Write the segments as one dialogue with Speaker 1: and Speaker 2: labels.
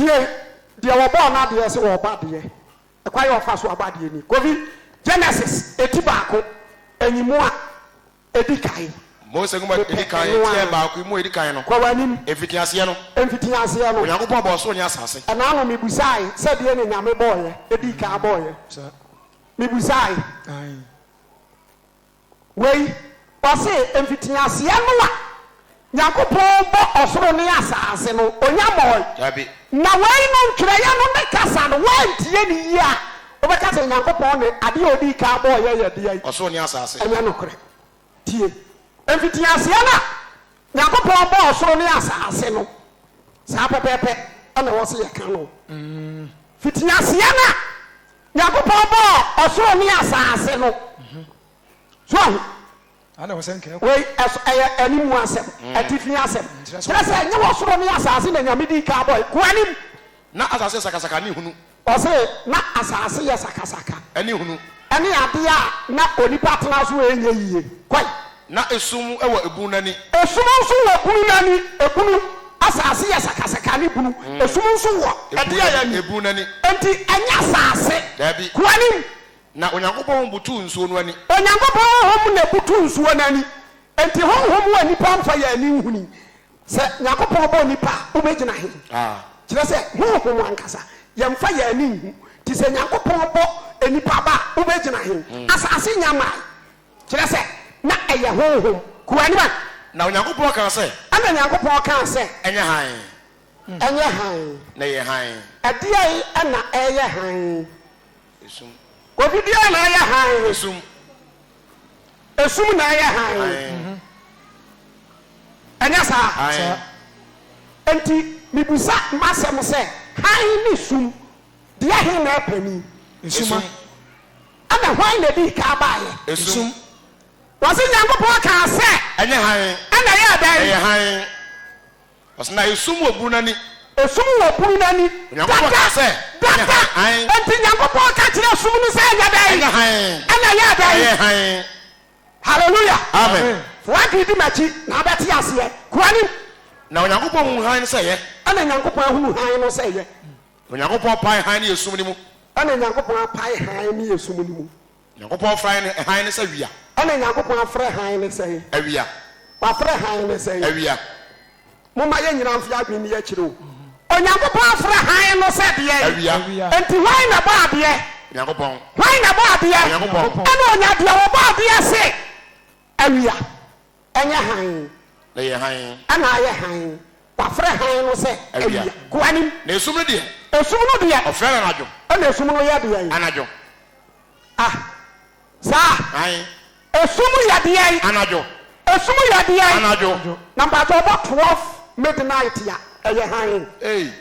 Speaker 1: Deɛ deɛ wɔbɔɔ no adeɛ sɛ ɔba deɛ, ɛkwan a ɔfa so aba deɛ ni, Kofi, Genesis eti baako, nyimu a edi kan. Mose Nwoma a edi kan, eti a baako, nyimu a edi kan no. Kɔ w'anim. Mfitiaseɛ no. Mfitiaseɛ no. Onyankopɔn bɔɔ soro ne asase. Ɛna ano mibusaae sɛ deɛ na Nyame bɔɔeɛ, edii kan bɔɔeɛ. Mibusaae. Wei, ɔse, mfitiaseɛ no a Nyankopɔn bɔ ɔsoro ne asaase no, Onya mɔɔe. Dabi. Na wei no ntwerɛeɛ no ne kasa no, woantie no yie a, wobɛka sɛ Nyankopɔn ne adeɛ a ɔdii kan bɔeɛ yɛ deɛn? Ɔsoro ne asaase. Ɛnyɛ nokorɛ. Tie, mfitiaseɛ no a Nyankopɔn bɔ ɔsoro ne asaase no, saa pɛpɛɛpɛ na ɛwɔ se yɛka no. Mfitiaseɛ no a Nyankopɔn bɔɔ ɔsoro ne asaase no. So wahu? Wei, ɛso, ɛyɛ animu asɛm, atifi asɛm. Kyerɛ sɛ, ɛnyɛ ɔsoro ne asaase na Nyame dii kan bɔe. Kɔ anim. Na asaase yɛ sakasaka ne hunu. Ɔse, na asaase yɛ sakasaka. Ɛne hunu. Ɛne adeɛ a na onipa tena so a ɛnyɛ yie. Kɔ. Na esum wɔ ebunu no ani. Esum nso wɔ ebunu no ani. Ebunu, asase yɛ sakasaka ne bunu. Esum nso wɔ ɛde a ɛyɛ ebunu no ani. Enti ɛnyɛ asase. Dabi. Ko anim. Na Onyankopɔn honhom butuw nsuo no ani. Onyankopɔn honhom na ebutu nsuo no ani. Enti honhom a nnipa mfa yɛn ani nhuni. Sɛ Nyankopɔn bɔ nnipa a, wobɛgyina he? Kyerɛ sɛ, honhom ankasa, yɛmfa yɛn ani nhu. Nti sɛ Nyankopɔn bɔ nnipa ba a, wobɛgyina he? Asase nnya mmae. Kyerɛ sɛ, na ɛyɛ honhom kuaa no ma. Na Onyankopɔn kaa sɛ. Ɛnna Onyankopɔn kaa sɛ. Ɛnyɛ hann. Ɛnyɛ hann. Na ɛyɛ hann. Ɛdeɛn na ɛyɛ hann? Esum. Obi biara na ɛyɛ hann. Esum. Esum na ɛyɛ hann. Hann. Ɛnyɛ saa? Hann. Enti mebisa m'asɛm sɛ, hann ne sum, deɛ he na ɛpanin? Esum. Ɛnna hwan na edii kan baeɛ? Esum. Wɔse Nyankopɔn kaa sɛ. Ɛnyɛ hann. Ɛnna ɛyɛɛ dɛn? Ɛyɛ hann. Wɔse na esum wɔ bunu no ani. Esum wɔ bunu no ani. Onyankopɔn kaa sɛ. Ɛnyɛ hann. Enti Nyankopɔn ka kyerɛɛ esum no sɛ ɛnyɛ dɛn? Ɛnyɛ hann. Ɛnna ɛyɛɛ dɛn? Ɛyɛɛ hann. Hallelujah. Amen. Fa w'adwene di m'akyi na wobɛte aseɛ. Kɔ anim. Na Onyankopɔn huu hann no sɛ ɛyɛ. Ɛnna Nyankopɔn huu hann no sɛ ɛyɛ. Onyankopɔn pae hann ne esum no mu. Ɛna Nyankopɔn apae hann ne esum no mu. Nyankopɔn frɛ ne hann no sɛ wia. Ɛna Nyankopɔn afrɛ hann no sɛn? Awia. Wafrɛ hann no sɛn? Awia. Momma yɛn nyinaa mfe adwene nni akyire o. Onyankopɔn afrɛ hann no sɛ deɛn? Awia. Enti hwan na ɛbɔ adeɛ? Nyankopɔn. Hwan na ɛbɔ adeɛ? Nyankopɔn. Ɛna Ɔnya deɛ ɔbɔ adeɛ se awia. Ɛnyɛ hann. Na ɛyɛ hann. Ɛna ayɛ hann. Wɔafrɛ hann no sɛ awia. Guanim. Na esum no deɛ. Esum no deɛ. Wɔfrɛ no anadwo. Ɛna esum no yɛ deɛn? Anadwo. Ah, saa? Hann. Esum yɛ deɛn? Anadwo. Esum yɛ deɛn? Anadwo. Na mpakyɛ ɔbɔ twelve midnight a, ɛyɛ hann. Ei.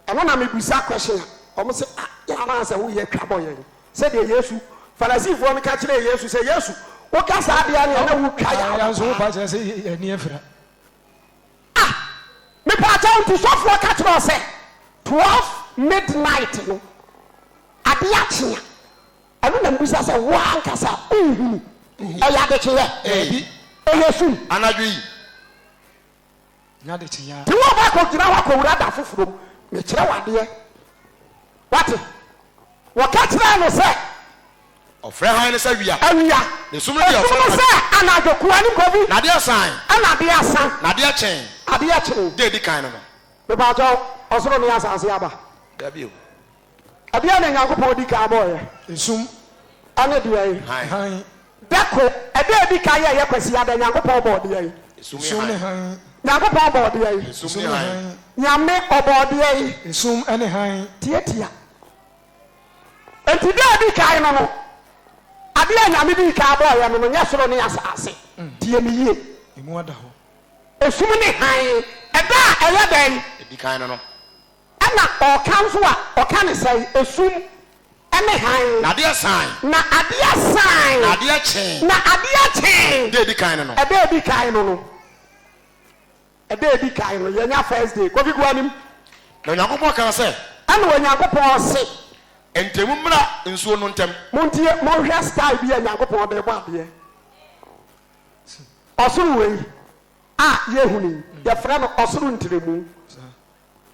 Speaker 1: Ɛno na mebisa question a wɔn se ah yɛn anaasɛ wo yɛ twa bɔ yɛn sɛdeɛ Yesu Farisifoɔ no ka kyerɛɛ Yesu sɛ Yesu woka saa deɛ a neɛ na wo twa yɛn aba paa. Ah mepaakyɛw nti sɔfoɔ ka kyerɛ wo sɛ 12 midnight no adeɛ akye a ɛno na mebisa sɛ wo ara ankasa wo nhunu ɛyɛ adekyeɛ? Dabi. Ɛyɛ sum. Anadwo yi. Nya adekyeeɛ. Te wo ba kɔgyina hɔ kɔwura da foforɔ mu, mekyerɛ wo adeɛ. Woate? Wɔka kyerɛɛ no sɛ. Wɔfrɛ hann no sɛ awia. Awia. Na esum no deɛ wɔfrɛ no anadwo. Esum no sɛ anadwo, koane bɔ bi. Na adeɛ resan. Ɛna adeɛ asa. Na adeɛ kyee. Adeɛ kyee. Deɛ edi kan no no. Mepakyɛw, ɔsoro ne asase aba? Dabi o. Ɛdeɛn na Onyankopɔn di kan bɔeɛ? Esum. Ɛne deɛn? Hann. Dako, Ɛda a ɛdi kan yɛ ɛyɛ Kwasida da, Nyankopɔn bɔɔ deɛn? Esum ne hann. Nyankopɔn bɔɔ deɛn? Esum ne hann. Nyame, Ɔbɔɔ deɛn? Esum ne hann. Tiatia. Enti da a ɛdi kan no no, adeɛ a Nyame dii kan bɔeɛ no no nyɛ soro ne asaase. Tie me yie. Emu ada hɔ. Esum ne hann. Ɛda a ɛyɛ dɛn? Ɛdi kan no no. Ɛna ɔɔka nso a ɔka no sɛɛ, Esum ne hann. Na adeɛ saan. Na adeɛ saan. Na adeɛ kyee. Na adeɛ kyee. Ɛda a edi kan no no. Ɛda a edi kan no no. Ɛda a edi kan no. Yɛnya first day. Kofi gu anim. Na Onyankopɔn kaa sɛ. Ɛna Onyankopɔn se. Nti mo mmra nsuo no ntɛm. Montie, monhwɛ style bi a Nyankopɔn de rebɔ adeɛ. Ɔsoro wei a yɛhunu yi, yɛfrɛ no ɔsoro ntrɛmu.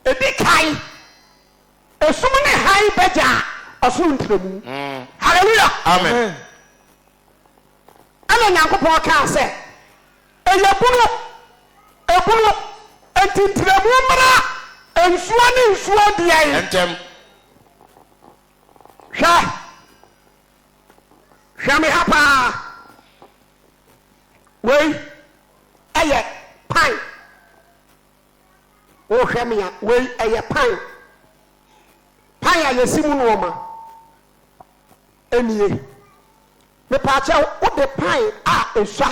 Speaker 1: Ɛdi kan, ɛsum ne hann bɛgyaa ɔsoro ntrɛmu. Hallelujah! Amen! Ɛna Nyankopɔn kaa sɛ, Ɛyɛ bunu, ɛbunu, enti ntrɛmu mmra nsuo ne nsuo deɛn? Ntɛm. Hwɛ, hwɛ me ha paa, wei ɛyɛ pan. Wohwɛ me a, wei ɛyɛ pan. Pan a yɛsi mu nnoɔma nie. Mepaakyɛw, wode pan a esua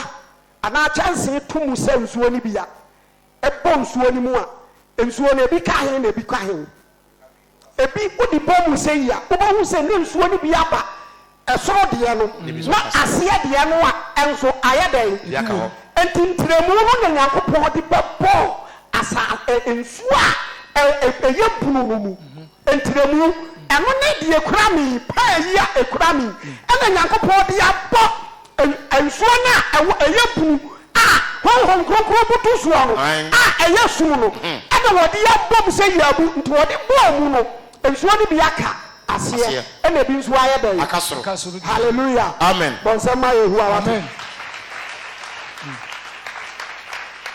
Speaker 1: anaa kyɛnsee to mu sɛ nsuo no bi a, ɛbɔ nsuo no mu a, nsuo no ebi ka he na ebi ka he? Ebi wodi pɛ mu sɛyi a, wobɛhu sɛ ne nsuo no bi aba ɛsoro deɛ no, na aseɛ deɛ no a nso ayɛ dɛn? Enti ntrɛmu no na Nyankopɔn de bɛbɔɔ asa ɛ nsuo a ɛ ɛ ɛyɛ bunu no mu ntrɛmu. Ɛno ne deɛ ekura me yi, pɛɛ yi a ekura me yi, ɛna Nyankopɔn de abɔ. Ɛ, nsuo no a ɛwɔ, ɛyɛ bunu a Honhom Kronkron butu soɔ no, a ɛyɛ sum no, ɛna wɔde abom sɛ yaabu, nti wɔde bɔɔ mu no, nsuo no bi aka aseɛ, ɛna ebi nso ayɛ dɛn? Aka soro. Hallelujah! Amen. Bɔ nsɛm ma Yehowa, wate?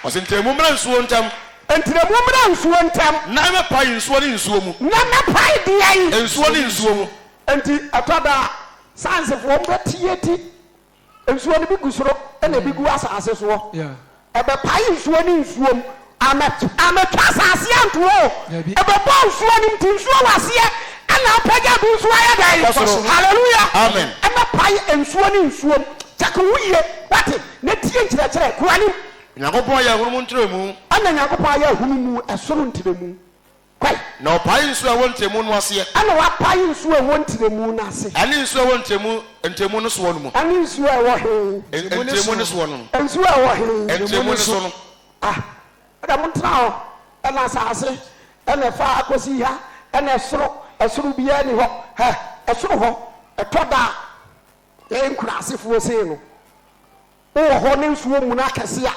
Speaker 1: Ɔse, Ntrɛmu mmra nsuo ntɛm. Ntrɛmu mmra nsuo ntɛm. Na mɛpae nsuo ne nsuo mu. Na mɛpae deɛn? Nsuo ne nsuo mu. Nti ɛtɔ da a, Sciencefoɔ no bɛteɛ ti. Nsuo no bi gu soro ɛna ebi gu asase soɔ. Ɛbɛpae nsuo ne nsuom. Amɛtwa asase anto o. Ɛbɛbɔ nsuo no mu te nsuo wɔ aseɛ ɛna apagya bi nso ayɛ dɛn? Kɔ soro. Hallelujah. Amen. Ɛbɛpae nsuo ne nsuom. Check wo ho yie. Wate? Na tie nkyerɛkyerɛ. Kɔ anim. Onyankopɔn ayɛ ahunmu ntrɛmu. Ɛna Nyankopɔn ayɛ ahunmu ɛsoro ntrɛmu. Kwae. Na ɔpaee nsu a ɛwɔ ntrɛmu no aseɛ. Ɛna wapae nsu a ɛwɔ ntrɛmu no ase. Ɛne nsu a ɛwɔ ntrɛmu, ntrɛmu no soɔ no mu. Ɛne nsu a ɛwɔ he? Ntrɛmu no soɔ no. Nsu a ɛwɔ he? Ntrɛmu no so no. Ah, ɛna montena hɔ. Ɛna asaase, ɛna ɛfa ha kɔsi ha, ɛna ɛsoro, ɛsoro biaa nni hɔ. Hɛ, ɛsoro hɔ, ɛtɔ da a, yɛyɛ nkuraasefoɔ sei no, Wowɔ hɔ na nsuo remuna akɛse a,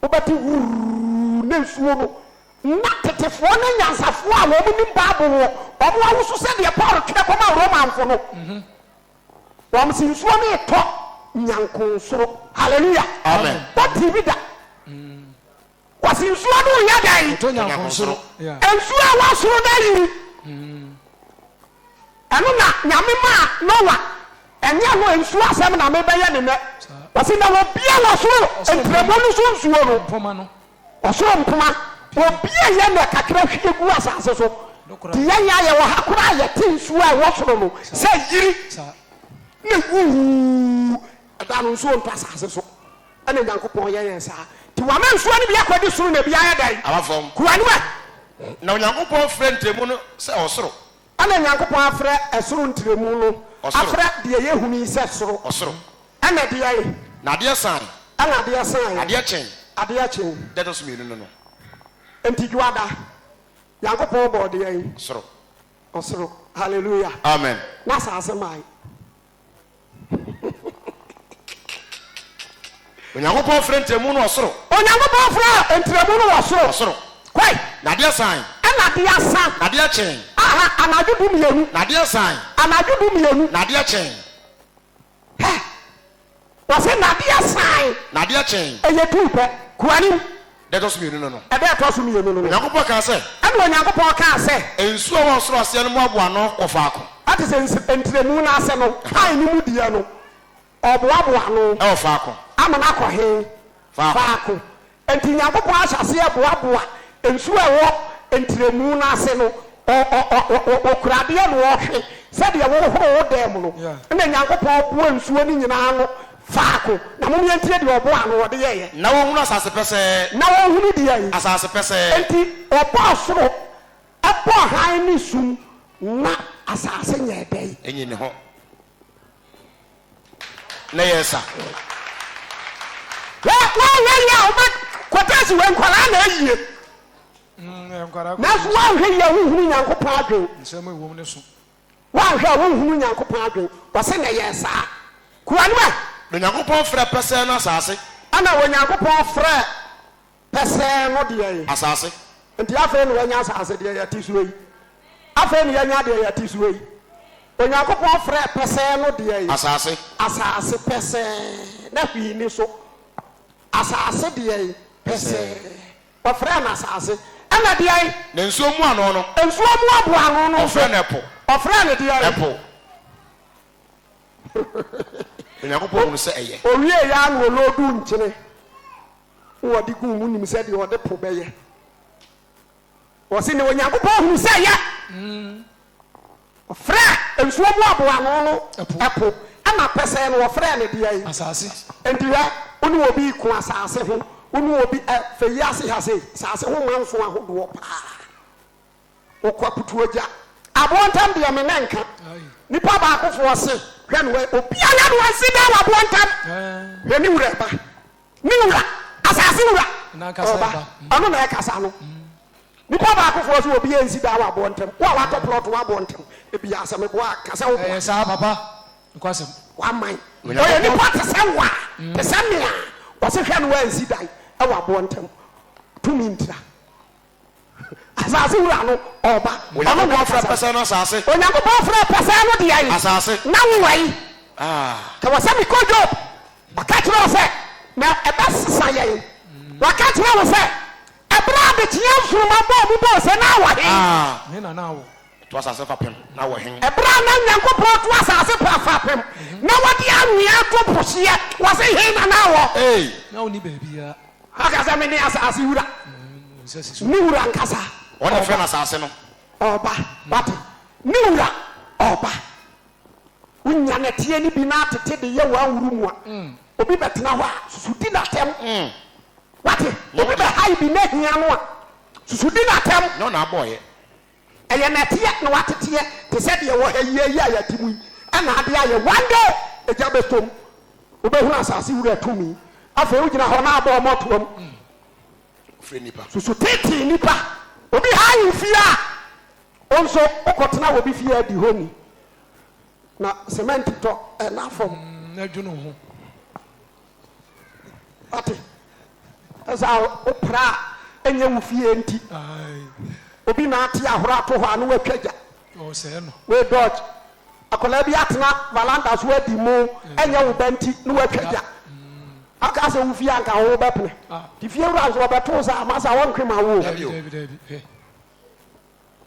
Speaker 1: wobɛte wurr na nsuo no. Ná tetefoɔ ne anyansafoɔ a wɔnim Bible no, wɔawoso sɛdeɛ Paulo twerɛ kɔmaa Romafo no. Wɔse nsuo no retɔ nyanko nsoro. Hallelujah! Amen. Watee bi da? Wɔse nsuo no reyɛ dɛn? Ɔtɔ nyankonnsoro. Nsuo a ɛwɔ soro no ayiri. Ɛno na Nyame maa Noah. Ɛnyɛ ɛno, nsuo asɛm na mebɛyɛ no nnɛ. Wɔse na wɔbue wɔ soro ntrɛmu no so nsuo no. Ɔsoro mpoma. Wɔbueeɛ na kakra hwie guu asase so. Nti yɛn a yɛwɔ ha koraa yɛte nsuo a ɛwɔ soro no sɛ yiri na wuu. Ɛda no nsuo ntɔ asase so. Ɛna Onyankopɔn yɛ yɛn saa. Nti wama nsuo no bi akɔdi soro na bi ayɛ dɛn? Aba fam. Kuruwa. Na Onyankopɔn frɛ ntrɛmu no sɛ ɔsoro. Ɛna Onyankopɔn afrɛ ɛsoro ntrɛmu no. Ɔsoro. Afrɛ deɛ yɛhunu yi sɛ soro. Ɔsoro. Ɛna ɛdeɛn? Na adeɛ saeɛ. Ɛna adeɛ saeɛ. Adeɛ kyee. Adeɛ kyee. Da a ɛtɔ so mmienu no no. Nti Dwoada, Nyankopɔn bɔɔ deɛn? Soro. Ɔsoro. Hallelujah. Amen. Na asaase mae. Onyankopɔn frɛ ntrɛmu no ɔsoro. Onyankopɔn frɛ ntrɛmu no ɔsoro. Ɔsoro. Kwae. Na adeɛ san. Ɛna adeɛ san. Na adeɛ kyɛn. Aha, anadwo du mmienu. Na adeɛ san. Anadwo du mmienu. Na adeɛ kyɛn. Hɛ! Ɔse nadeɛ saan. Nadeɛ kyee. Ɛyɛ duu pɛ. Kuanim. Da ɛtɔ so mmienu no no. Ɛda ɛtɔ so mmienu no no. Onyankopɔn kaa sɛ. Ɛna Onyankopɔn kaa sɛ. Nsuo a ɛwɔ ɔsoro aseɛ no moaboa ano wɔ faako. Te sɛ nsi, ntrɛmu no ase no. A ɛne mu deɛ no, ɔboaboa ano. Wɔ faako. Amene akɔ he? Faako. Enti Nyankopɔn ahyɛ aseɛ boaboa nsuo a ɛwɔ ntrɛmu no ase no, ɔ, ɔ, ɔ, ɔ, ɔ, ɔkura adeɛ na ɔhwe sɛdeɛ wohoro wo dan mu no, Yeah. ɛna Nyankopɔn boa nsuo no nyina ano faako, na mom yɛntie deɛ ɔboɔ ano ɔde yɛeɛ. Na wɔnhunu asase pɛsɛɛ. Na wɔnhunu deɛn? Asase pɛsɛɛ. Enti Ɔbɔɔ soro, ɛbɔɔ hann ne sum, na asase nyɛɛ dɛn? Ɛnyii ne ho. na yɛ sa. Wɛ wɛ wɛ yɛ a wobɛ kɔtɛ si wɛ nkwaraa na ayie. Nanso woanhwɛ yie a wonhunu Nyankopɔn adwen. Nsɛm a ɛwom no so. Woanhwɛ a wonhunu Nyankopɔn adwen. Ɔse na yɛ saa. Kura no ɛ. Na Onyankopɔn frɛ pɛsɛɛ no asase. Ɛna Onyankopɔn frɛ. pɛsɛɛ no deɛ ye. Asase. Nti afei na wanya asase, deɛ yɛte soɔ yi. Afei na yɛanya deɛ yɛte soɔ yi. Onyankopɔn frɛɛ pɛsɛɛ no deɛ ye. Asase. Asase pɛsɛɛ, na hwee nni so. Asase deɛ ye pɛsɛɛ. Wɔfrɛɛ no asase. Ɛna deɛ ye. Na nsuo mmoano no. Nsuo mmoaboano no nso. Wɔfrɛɛ no ɛpo. Wɔfrɛɛ no deɛ ye. Ɛpo. Onyankopɔn hunu sɛ ɛyɛ. Ɔwieeɛ ara na ɔlooduu nkyene. Wɔde guu mu nim sɛ deɛ ɔde po bɛyɛ. Wɔse na Onyankopɔn hunu sɛ ɛyɛ. Ɔfrɛɛ nsuo mu aboa ano no ɛpo, ɛna pɛsɛɛ no ɔfrɛɛ no deɛn? Asase. Enti hwɛ, wo ne obi reko asase ho, wo ne obi, ɛ, fɛ yi ase ha sei, asase ho manso ahodoɔ paa. Wo kwa putu ogya. Aboɔ ntam deɛ me nan ka. Nipa baako foɔ se hwɛ no ɛ. Obiara no ansi da wɔ aboɔ ntam. Hwɛ ne wura ba. Ne wura. Asase wura. Ɔba. Ɔno na ɛkasa no. Nipa baako foɔ se obi ansi da wɔ aboɔ ntam. Wo a watɔ plot wɔ aboɔ ntam. Ebia sɛ me boa a ka sɛ wo boa. Ɛyɛ saa papa. Nokwasɛm. Waman. Ɔyɛ nipa te sɛ wo a. Te sɛ me a. Ɔse hwɛ no ɛ ansi dan. Ɛwɔ aboɔ ntam. Tumi ntira. Asase wura no ɔɔba. Ɔno na ɔfrɛ pɛsɛɛ no asase. Onyankopɔn frɛɛ pɛsɛɛ no deɛn? Asase. Na wo wai? Ah. Ka wɔ sɛ mekɔ Job. Ɔka kyerɛ wo sɛ. Na ɛbɛsesa yɛn. Waka kyerɛ wo sɛ. Ɛberɛ a adekyeɛ nsoromma bɔɔ mu bɔɔ ose na wɔ he? Ah. He na na wɔ. To asase fapem na wɔ hen? Ɛberɛ a na Nyankopɔn to asase pa fapem na wɔde anwea ato po hyeɛ, wɔse, Hen na na wɔ? Ei! Na ɔnni baabiara. Ɔka sɛ, Mene asase wura, ne wura ankasa. Wɔn na wɔfrɛ no asase no. Ɔba. Wate? Ne wura, ɔba. Wonya nɛteɛ no bi na atete de yɛ w'anwuru mu a, obi bɛtena hɔ a, susu di no atɛm. Wate? Obi bɛhae bi na ahia no a, susu di no atɛm. Nyɛ wo na abɔeɛ. Ɛyɛ na ɛteɛ na wateteɛ te sɛ deɛ ɛwɔ ha yi ara yi a yɛte mu yi na ade ayɛ. One day egya bɛtɔ mu, wobɛhunu asase wura tumi. Afei wogyina hɔ na abɔ ɔmɔtoa mu. Susu tetee nnipa, obi ha wo fie a, wo nso wokɔtena wɔ obi fie a adi hɔ ni, na semɛnte tɔ na fam. Wate? Ɛsɛ a wopra a ɛnyɛ wo fie nti. Obi na ate ahoro ato hɔ a na watwa gya. Wei dodge. Akwadaa bi atena valanda so adi mo, ɛnyɛ wo ba nti na watwa gya. Aka sɛ wo fie anka ho wobɛpene. Nti fie wura nso ɔbɛto wo sɛ ama sɛ ɔntwe ma wo o.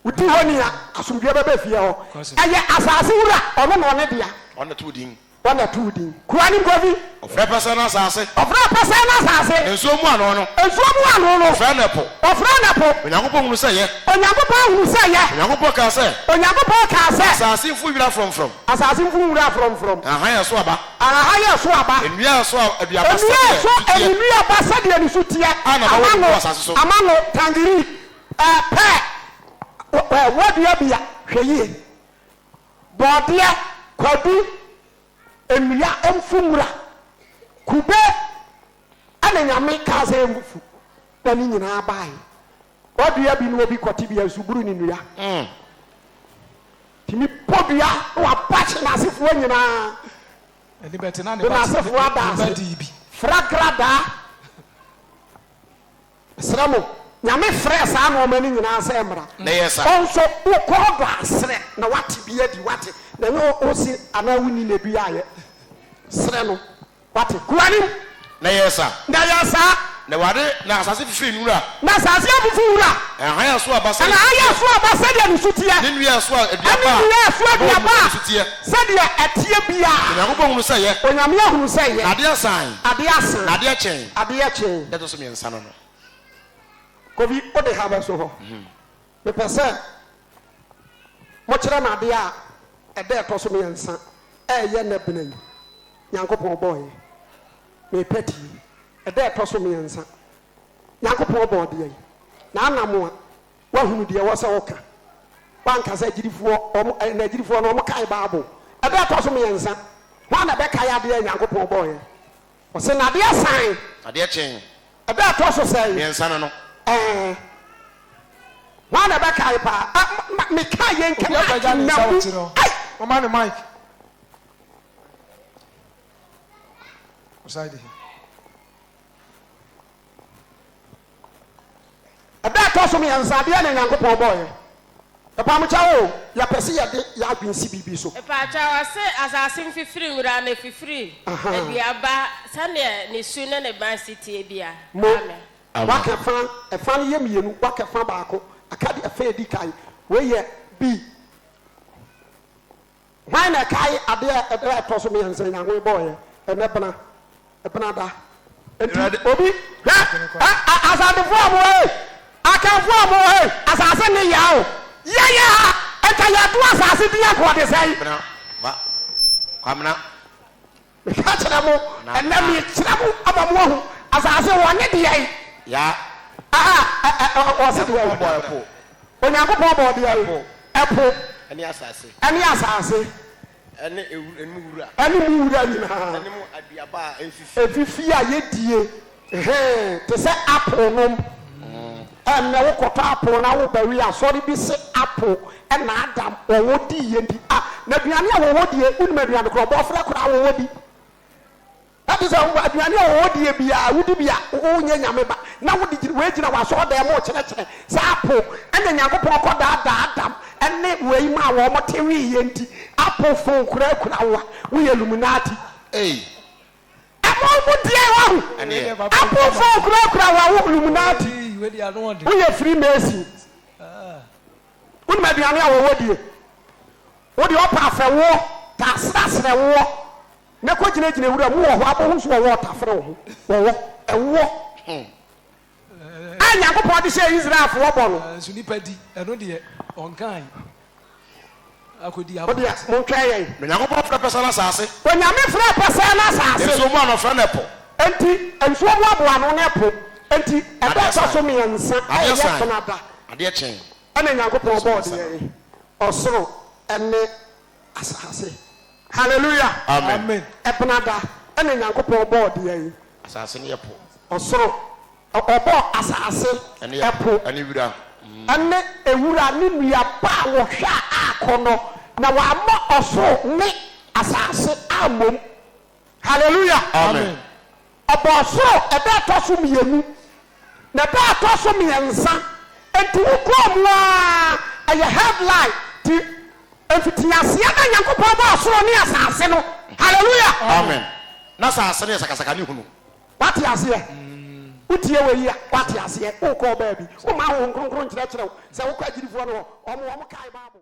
Speaker 1: Odi hɔ ni a, asomdwoeɛ bɛba efie hɔ. Ɛyɛ asase wura, ɔno na ɔne dea. Ɔno na ɛto wo din. Ɔno na ɛto wo din. Kuro anim kofi. Ɔfrɛ pɛsɛɛ no asase. Ɔfrɛ pɛsɛɛ no asase. Nsuo mu ano no. Nsuo mu ano no. Ɔfrɛ no ɛpo. Ɔfrɛ no ɛpo. Onyankopɔn hunu sɛ yɛ. Onyankopɔn hunu sɛ yɛ. Onyankopɔn kaa sɛ. Onyankopɔn kaa sɛ. Asase mfu nwura frɔmfrɔm. Asase mfu nwura frɔmfrɔm. Ahahan a ɛso aba. Ahahan a ɛso aba. Nnua a ɛso aduaba sɛdeɛ ne su teɛ. Nnua a ɛso nnuaba sɛdeɛ ne su teɛ. A na ɛbɛwo no wɔ asase so. Ama no, tangerine. Pɛɛpɛɛ, Ɛ, w'adua bi a, hwɛ yie. Bɔɔdeɛ, kwadu, nnua, mfu nwura, kube, ɛna Nyame kaa sɛ yɛngu fu, na ne nyinaa baae. W'adua bi na obi kɔte bia nsu buru ne nnua. Nti me bɔ dua na w'abakye n'asefoɔ nyinaa, de n'asefoɔ ada ase, fragradaa. Mesrɛ mo, Nyame frɛɛ saa nnoɔma no nyinaa sɛ mmara. Na ɛyɛ saa. Wo nso, wokɔ ɔdɔ asrɛ na woate bi adi, woate, na ɛnyɛ wo wose anaa wonni na ɛdu yɛ a yɛ srɛ no, woate, gu w'anim. Na ɛyɛ saa. Na ɛyɛ saa. Na Awurade, na asase fifiri nwura. Na asase afifi nwura. Na hann a ɛso aba sɛdeɛ ne su teɛ. Na hann a ɛso aba sɛdeɛ ne su teɛ. Ne nnua a ɛso aduaba a. Ne nnua a ɛso aduaba a sɛdeɛ ɛteɛ biara. Na Onyankopɔn hunuu sɛ ɛyɛ. Onyame hunuu sɛ ɛyɛ. Na adeɛ saae. Adeɛ saae. Na adeɛ kyee. Adeɛ kyee. nsa no no. Kofi, wo de ha bɛso hɔ. Mepɛ sɛ mokyerɛ me adeɛ a ɛda ɛtɔ so mmiɛnsa a ɛyɛ nnɛ bena yi Nyankopɔn bɔeɛ. Mepɛ tie. Ɛda a ɛtɔ so mmiɛnsa. Nyankopɔn bɔɔ deɛ yi. Na Anamoa, woahunu deɛ ɛwɔ sɛ woka. Woanka sɛ agyidifoɔ, wɔn, ɛnna agyidifoɔ no wɔkae Bible. Ɛda a ɛtɔ so mmiɛnsa, hwan na ɛbɛkae adeɛ a Nyankopɔn bɔeɛ? Ɔse na adeɛ san. Adeɛ kye. Ɛda a ɛtɔ so sɛn. Mmiɛnsa no no. Ɛɛ. Hwan na ɛbɛkae paa. Ɛ ma me ka yɛn kɛ na ake na mu. Ai. Mama no mic. Ɔsan di hɛ. Ɛda a ɛtɔ so mmiɛnsa, adeɛ na Nyankopɔn bɔeɛ. Yɛpam kyɛw o, yɛpɛ se yɛde yɛn adwene si biribi so. Mepa kyɛw, ɔse asase mfifiri nwura na ɛfifiri dua ba sɛdeɛ ne su ne ne ban si teɛ bia. Mo, waka ɛfa, ɛfa no yɛ mmienu, waka ɛfa baako, aka deɛ ɛfa a ɛdi kan. Wei yɛ B. Hwan na ɛkae ade a ɛda a ɛtɔ so mmiɛnsa a Nyankoe bɔeɛ? Ɛnnɛ bena. Bena da. Enti obi, hwɛ, ɛ, a, Asantefoɔ a mowɔ he, Akanfoɔ a mowɔ he, asaase nne ya o. Yɛyɛ a, nka yɛto asaase din anka ɔde sɛn? Bena, ba, Kwamena. Meka kyerɛ mo, ɛnnɛ merekyerɛ mo ama moahu asase wɔ ne dea yi. Ya. Aha, ɛ, ɛ, ɛ, wɔ sɛdeɛ Onyankopɔn bɔɔ ɛpo. Onyankopɔn bɔɔ dea yi, ɛpo. Ɛne asase. Ɛne asase. Ɛne ɛmu wura. Ɛne mu wura nyinaa. Ɛne mu aduaba a ɛnfifie. Ɛnfifie a yɛdie. Hee te sɛ apple nom. Ɛnɛ wo kɔtɔ apple na wo ba wie a asɔre bi se apple na Adam wɔwɔ dii yɛn di ah na aduane a wɔwɔ die wo nim aduane korɔ bɔɔfrɛ koraa wɔwɔ di ɛte sɛ wo aduane a wɔwɔ die biaa wo di bi a wo nyɛ nyame ba na wo de wei gyina wɔ asɔre dan mu rekyerɛkyerɛ sɛ apple ɛna Nyankopɔn kɔ daa daa Adam ɛne wei maa wɔn te wee yɛn di apple phone koraa kura wo a wo yɛ illuminati. Ei Ɛmɔɔ mu deɛn wahu? Aponfoɔ kurakura wɔn ho Illuminati woyɛ Freemason wonim aduane a wɔwɔ die wodeɛ ɔpɛ afɛ woɔ ta serɛserɛ woɔ na kɔ gyinagyina wura mu wɔ hɔ abɔ ho nso wɔwɔ ɔtafere wɔ ho wɔwɔ ɛwoɔ. a Nyankopɔn de hyɛɛ Israelfoɔ bɔ no. Nanso nnipa di, ɛno deɛ, ɔnkae. Akɔdi afa. Ɔdeɛ, montwɛn yɛn. Na Nyankopɔn frɛ pɛsɛ no asase. Onyame frɛ pɛsɛ no asase. Nsuo mu anoɔfrɛ ne po. Enti nsuo mu aboa no ne po. Enti ɛda a ɛtɔ so mmiɛnsa a ɛyɛ fena da. Adeɛ kye. Ɛna Nyankopɔn bɔɔ deɛ, ɔsoro ne. asase. Hallelujah! Ebenada na Nyankopɔn bɔɔ deɛn? Asase ne ɛpo. Ɔsoro. Ɔbɔɔ asase, ɛpo, ɛne wira, ɛne ɛwura ne nnuaba a wɔhwɛ a aakɔnɔ, na wammɔ ɔsoro ne asase ammom. Hallelujah! Amen. Ɔbɔɔ soro ɛda a ɛtɔ so mmienu, na ɛda a ɛtɔ so mmiɛnsa, enti wokura mu ara, ɛyɛ headline ti, Mfitiaseɛ na Nyankopɔn bɔɔ soro ne asase no, Hallelujah! Amen! Na asase no yɛ sakasaka ne hunu. Wate aseɛ? Wotie wei yi a, wate aseɛ? Wokɔɔ baabi, womaa Honhom Kronkron kyerɛkyerɛ wo sɛ wokɔ agyidifoɔ no hɔ, wɔn, wɔn kae Bible.